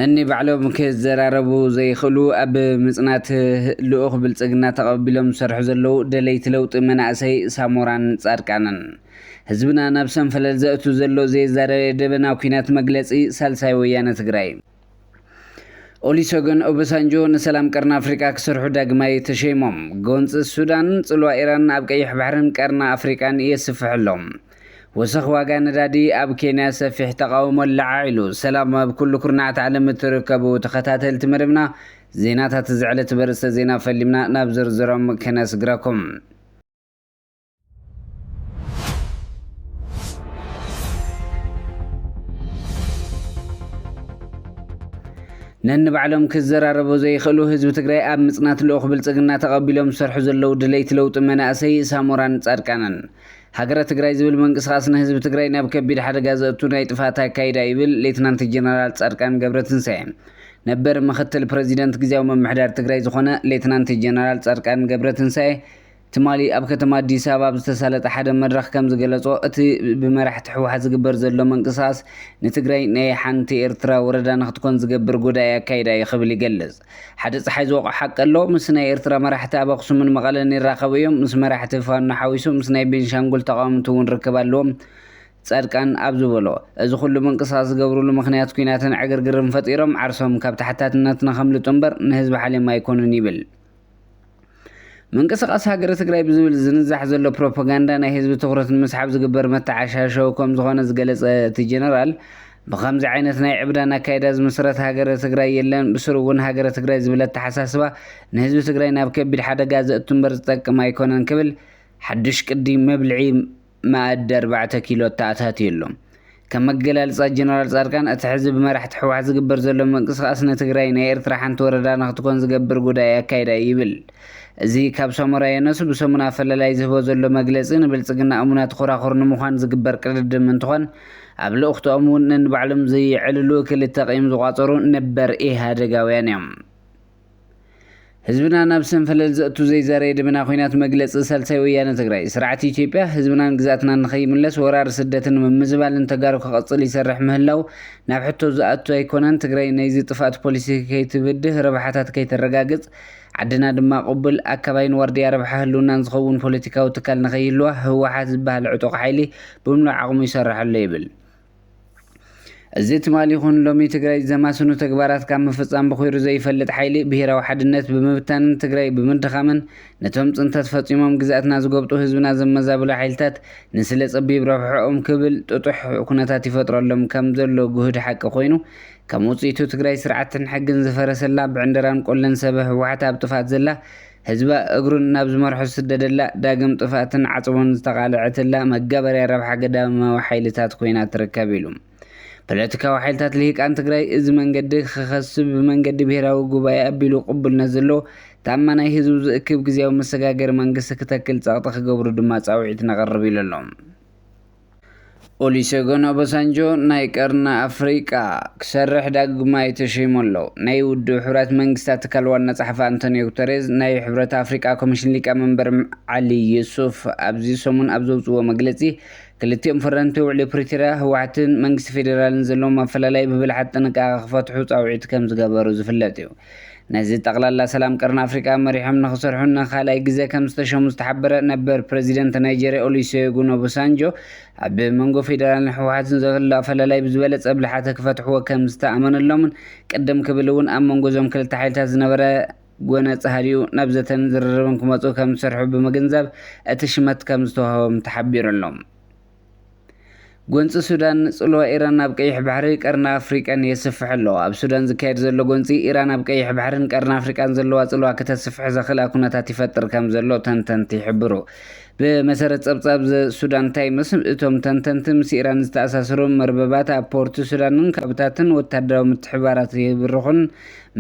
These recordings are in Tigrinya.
ነኒባዕሎም ክዘራረቡ ዘይኽእሉ ኣብ ምፅናት ልኡኽ ብልፅግና ተቐቢሎም ዝሰርሑ ዘለዉ ደለይቲ ለውጢ መናእሰይ ሳሞራን ፃድቃንን ህዝብና ናብ ሰንፈለል ዘእቱ ዘሎ ዘይዛረበ ደበና ኩናት መግለፂ ሳልሳይ ወያነ ትግራይ ኦሊሰገን ኦበሳንጆ ንሰላም ቀርኒ ኣፍሪቃ ክሰርሑ ዳግማይ ተሸይሞም። ጎንፂ ሱዳን፣ ፅልዋ ኢራን ኣብ ቀይሕ ባሕርን ቀርኒ ኣፍሪቃን የስፍሕ ኣሎ። ወሰኽ ዋጋ ነዳዲ፣ ኣብ ኬንያ ሰፊሕ ተቓውሞ ኣለዓዒሉ። ሰላም ኣብ ኩሉ ኩርናዓት ዓለም እትርከቡ ተኸታተልቲ መደብና ዜናታት እዚ ዕለት በርእስተ ዜና ፈሊምና ናብ ዝርዝሮም ከነስግራኩም። ነንባዕሎም ክዘራረቡ ዘይኽእሉ ህዝቢ ትግራይ ኣብ ምፅናት ልኡኽ ብልፅግና ተቐቢሎም ዝሰርሑ ዘለዉ ድለይቲ ለውጢ መናእሰይ ሳሞራን ፃድቃንን ሃገረ ትግራይ ዝብል ምንቅስቓስ ንህዝቢ ትግራይ ናብ ከቢድ ሓደጋ ዘእቱ ናይ ጥፍኣት ኣካይዳ ይብል ሌትናንት ጀነራል ፃድቃን ገብረትንሳኤ ነበር ምክትል ፕረዚደንት ግዜያዊ ምምሕዳር ትግራይ ዝኾነ ሌትናንት ጀነራል ፃድቃን ገብረትንሳኤ ትማሊ ኣብ ከተማ ኣዲስ ኣበባ ኣብ ዝተሳለጠ ሓደ መድረኽ ከም ዝገለፆ እቲ ብመራሕቲ ህወሓት ዝግበር ዘሎ ምንቅስቓስ ንትግራይ ናይ ሓንቲ ኤርትራ ወረዳ ንክትኮን ዝገብር ጎዳኢ ኣካይዳ እዩ ክብል ይገልፅ። ሓደ ፀሓይ ዝወቕዖ ሓቂ ኣሎ፣ ምስ ናይ ኤርትራ መራሕቲ ኣብ ኣኽሱምን መቐለን ይራኸቡ እዮም፣ ምስ መራሕቲ ፋኖ ሓዊሱ ምስ ናይ ቤንሻንጉል ተቓወምቲ እውን ርክብ ኣለዎም ፃድቃን ኣብ ዝበሎ እዚ ኩሉ ምንቅስቓስ ዝገብሩሉ ምኽንያት ኲናትን ዕግርግርን ፈጢሮም ዓርሶም ካብ ተሓታትነት ንከምልጡ እምበር ንህዝቢ ሓልዮም ኣይኮኑን ይብል። ምንቅስቓስ ሃገረ ትግራይ ብዝብል ዝንዛሕ ዘሎ ፕሮፓጋንዳ ናይ ህዝቢ ትኹረት ንምስሓብ ዝግበር መተዓሻሸዊ ከም ዝኾነ ዝገለፀ እቲ ጀነራል ብኸምዚ ዓይነት ናይ ዕብዳን ኣካይዳ ዝምስረት ሃገረ ትግራይ የለን ብስሩ እውን ሃገረ ትግራይ ዝብል ኣተሓሳስባ ንህዝቢ ትግራይ ናብ ከቢድ ሓደጋ ዘእቱ እምበር ዝጠቅም ኣይኮነን ክብል ሓዱሽ ቅዲ መብልዒ መኣዲ ኣርባዕተ ኪሎ እተኣታትየሎም። ከም ኣገላልጻ ጀነራል ጻድቃን፣ እቲ ሕዚ ብመራሕቲ ህወሓት ዝግበር ዘሎ ምንቅስቓስ ንትግራይ ናይ ኤርትራ ሓንቲ ወረዳ ንክትኮን ዝገብር ጉዳኢ ኣካይዳ እዩ ይብል። እዚ ካብ ሳሞራ የኑስ ብሰሙን ኣፈላላይ ዝህቦ ዘሎ መግለጺ ንብልጽግና እሙናት ኾራኹር ንምዃን ዝግበር ቅድድም እንትኾን ኣብ ልኡኽቶኦም እውን ነንባዕሎም ዘየዕልሉ ክልተ ቂም ዝቋጸሩ ነበር ኢህኣደጋውያን እዮም። ህዝብና ናብ ሰንፈለል ዘእቱ ዘይዛረየ ደበና ኩናት መግለፂ ሳልሳይ ወያነ ትግራይ ስርዓት ኢትዮጵያ ህዝብናን ግዝኣትናን ንኸይምለስ ወራር ስደትን ምምዝባልን ተጋሩ ክቐፅል ይሰርሕ ምህላው ናብ ሕቶ ዝኣቱ ኣይኮነን ትግራይ ናይዚ ጥፍኣት ፖሊሲ ከይትብድህ ረብሓታት ከይተረጋግፅ ዓድና ድማ ቁብል ኣካባይን ዋርድያ ረብሓ ህልውናን ዝኸውን ፖለቲካዊ ትካል ንኸይህልዋ ህወሓት ዝበሃል ዕጡቕ ሓይሊ ብምሉእ ዓቕሙ ይሰርሓሎ ይብል እዚ ትማል ይኹን ሎሚ ትግራይ ዘማስኑ ተግባራት ካብ ምፍፃም ብኹይሩ ዘይፈልጥ ሓይሊ ብሄራዊ ሓድነት ብምብታንን ትግራይ ብምድኻምን ነቶም ፅንተት ፈፂሞም ግዝኣትና ዝጎብጡ ህዝብና ዘመዛብሉ ሓይልታት ንስለ ፀቢብ ረብሕኦም ክብል ጥጡሕ ኩነታት ይፈጥረሎም ከም ዘሎ ግሁድ ሓቂ ኮይኑ ከም ውፅኢቱ ትግራይ ስርዓትን ሕግን ዝፈረሰላ ብዕንደራን ቆለን ሰበ ህወሓት ኣብ ጥፍኣት ዘላ ህዝባ እግሩን ናብ ዝመርሖ ዝስደደላ፣ ዳግም ጥፍኣትን ዓጽቦን ዝተቓለዐትላ መጋበርያ ረብሓ ግዳማዊ ሓይልታት ኮይና ትርከብ ኢሉ። ፖለቲካዊ ሓይልታት ልሂቃን ትግራይ እዚ መንገዲ ክኸስብ ብመንገዲ ብሄራዊ ጉባኤ ኣቢሉ ቅቡልነት ዘለዎ ተኣማናይ ህዝቡ ዝእክብ ግዝያዊ መሰጋገሪ መንግስቲ ክተክል ጸቕጢ ክገብሩ ድማ ጻውዒት ነቕርብ ኢሉ ኣሎ። ኦሊሴጎን ኦባሳንጆ ናይ ቀርኒ ኣፍሪቃ ክሰርሕ ዳግማይ ተሸይሙ ኣሎ። ናይ ውድብ ሕቡራት መንግስታት ትካል ዋና ጸሓፊ ኣንቶንዮ ጉተሬዝ፣ ናይ ሕብረት ኣፍሪቃ ኮሚሽን ሊቀመንበር ዓሊ ዩሱፍ ኣብዚ ሰሙን ኣብ ዘውጽእዎ መግለጺ፣ ክልቲኦም ፈረምቲ ውዕሊ ፕሪቶርያ፣ ህወሓትን መንግስቲ ፌደራልን ዘለዎም ኣፈላላይ ብብልሓት ጥንቃቐ ክፈትሑ ጻውዒት ከምዝገበሩ ዝፍለጥ'ዩ። ነዚ ጠቕላላ ሰላም ቀርኒ ኣፍሪቃ መሪሖም ንኽሰርሑ ንኻልኣይ ግዘ ከምዝተሸሙ ዝተሓበረ ነበር ፕረዚደንት ናይጀርያ ኦሊሴጉን ኦቦሳንጆ ኣብ መንጎ ፌደራልን ህወሓትን ዘሎ ኣፈላላይ ብዝበለፀ ብልሓተ ክፈትሕዎ ከምዝተኣመነሎምን ቅድም ክብል እውን ኣብ መንጎ እዞም ክልተ ሓይልታት ዝነበረ ጎነፅ ሃዲኡ ናብ ዘተን ዝርርብን ክመፁ ከምዝሰርሑ ብምግንዛብ እቲ ሽመት ከምዝተውሃቦም ተሓቢሩ ኣሎ። ጎንፂ ሱዳን ንፅልዋ ኢራን ኣብ ቀይሕ ባሕሪ፣ ቀርኒ ኣፍሪቃን የስፍሕ ኣሎ። ኣብ ሱዳን ዝካየድ ዘሎ ጎንፂ፣ ኢራን ኣብ ቀይሕ ባሕሪን ቀርኒ ኣፍሪቃን ዘለዋ ፅልዋ ክተስፍሕ ዘኽእላ ኩነታት ይፈጥር ከምዘሎ ተንተንቲ ይሕብሩ። ብመሰረት ፀብፃብ ዘ ሱዳን ታይምስ፣ እቶም ተንተንቲ ምስ ኢራን ዝተኣሳሰሩ መርበባት ኣብ ፖርት ሱዳንን ካብታትን ወተሃደራዊ ምትሕብባራት ይብርኹን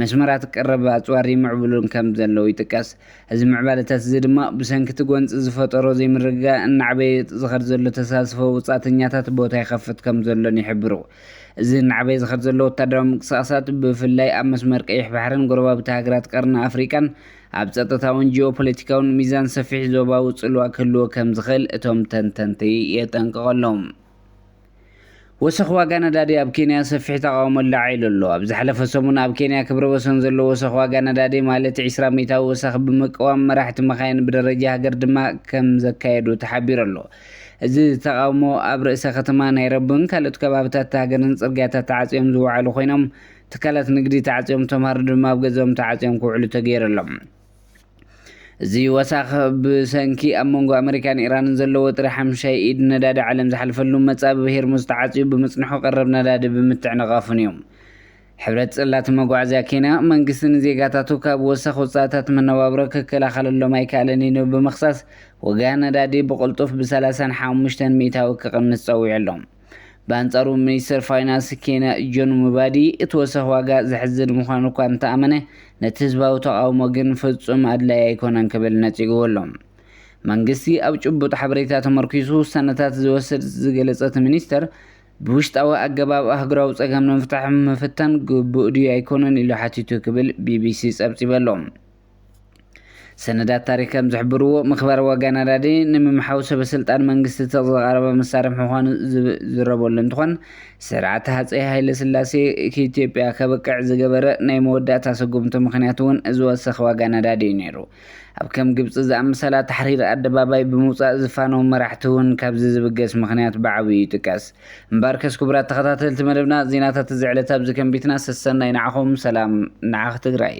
መስመራት ቀረብ ኣፅዋር ይምዕብሉን ከምዘለዉ ይጥቀስ። እዚ ምዕባለታት እዚ ድማ ብሰንኪ እቲ ጎንፂ ዝፈጠሮ ዘይምርግጋእ እናዕበየ ዝኸድ ዘሎ ተሳትፎ ወፃእተኛታት ቦታ ይኸፍት ከም ዘሎን ይሕብሩ። እዚ እናዕበየ ዝኸድ ዘሎ ወታደራዊ ምንቅስቓሳት ብፍላይ ኣብ መስመር ቀይሕ ባሕርን ጎረባብቲ ሃገራት ቀርኒ ኣፍሪቃን ኣብ ፀጥታውን ጂኦፖለቲካውን ሚዛን ሰፊሕ ዞባዊ ፅልዋ ክህልዎ ከም ዝኽእል እቶም ተንተንቲ የጠንቅቑ ኣለው። ወሰኽ ዋጋ ነዳዲ ኣብ ኬንያ ሰፊሕ ተቓውሞ ኣላዒሉ ኣሎ። ኣብ ዝሓለፈ ሰሙን ኣብ ኬንያ ክብረ ወሰን ዘለዎ ወሰኽ ዋጋ ነዳዲ ማለት ዕስራ ሚእታዊ ወሰኽ ብምቅዋም መራሕቲ መካይን ብደረጃ ሃገር ድማ ከም ዘካየዱ ተሓቢሩ ኣሎ። እዚ ተቓውሞ ኣብ ርእሰ ከተማ ናይሮብን ካልኦት ከባብታት እታ ሃገርን ጽርግያታት ተዓጽዮም ዝወዓሉ ኮይኖም ትካላት ንግዲ ተዓጽዮም ተምሃሮ ድማ ኣብ ገዝኦም ተዓጽዮም ክውዕሉ ተገይሩ ኣሎ። እዚ ወሳኽ ብሰንኪ ኣብ መንጎ ኣመሪካን ኢራንን ዘሎ ወጥሪ ሓምሻይ ኢድ ነዳዲ ዓለም ዝሓልፈሉ መጻብብ ሄርሙዝ ተዓጽዩ ብምጽንሑ ቀረብ ነዳዲ ብምትዕንቓፉን እዩ። ሕብረት ጽላተ መጓዓዝያ ኬንያ፣ መንግስቲ ንዜጋታቱ ካብ ወሳኽ ወጻእታት መነባብሮ ክከላኸለሎም ኣይከኣለን ኢሉ ብምኽሳስ ዋጋ ነዳዲ ብቕልጡፍ ብሰላሳን ሓሙሽተን ሚእታዊ ክቕንስ ጸዊዑ ኣሎ። ብኣንጻሩ ሚኒስተር ፋይናንስ ኬንያ ጆን ሙባዲ እቲ ወሰኽ ዋጋ ዘሕዝን ምዃኑ እኳ እንተኣመነ ነቲ ህዝባዊ ተቓውሞ ግን ፍጹም ኣድላዪ ኣይኮነን ክብል ነጺግዎ ኣሎ። መንግስቲ ኣብ ጭቡጥ ሓበሬታ ተመርኲሱ ውሳነታት ዝወስድ ዝገለጸ እቲ ሚኒስተር፣ ብውሽጣዊ ኣገባብ ኣህጉራዊ ጸገም ንምፍታሕ ምፍታን ግቡእ ድዩ ኣይኮነን ኢሉ ሓቲቱ ክብል ቢቢሲ ጸብጺቡ ኣሎ። ሰነዳት ታሪኽ ከም ዝሕብርዎ፣ ምክባር ዋጋ ነዳዲ ንምምሓው ሰበስልጣን መንግስቲ ትኽ ዝቐረበ መሳርሒ ምዃኑ ዝዝረበሉ እንትኾን፣ ስርዓት ሃፀይ ሃይለስላሴ ክኢትዮጵያ ከብቅዕ ዝገበረ ናይ መወዳእታ ስጉምቱ ምኽንያት እውን እዚ ወሰኽ ዋጋ ነዳዲ እዩ ነይሩ። ኣብ ከም ግብፂ ዝኣመሰላ ታሕሪር ኣደባባይ ብምውፃእ ዝፋነዉ መራሕቲ እውን ካብዚ ዝብገስ ምኽንያት ብዓብዩ ይጥቀስ። እምበኣርከስ ክቡራት ተኸታተልቲ መደብና ዜናታት እዚ ዕለት ኣብዚ ከንቢትና ሰሰናዩ ንዓኹም ሰላም ንዓኽ ትግራይ።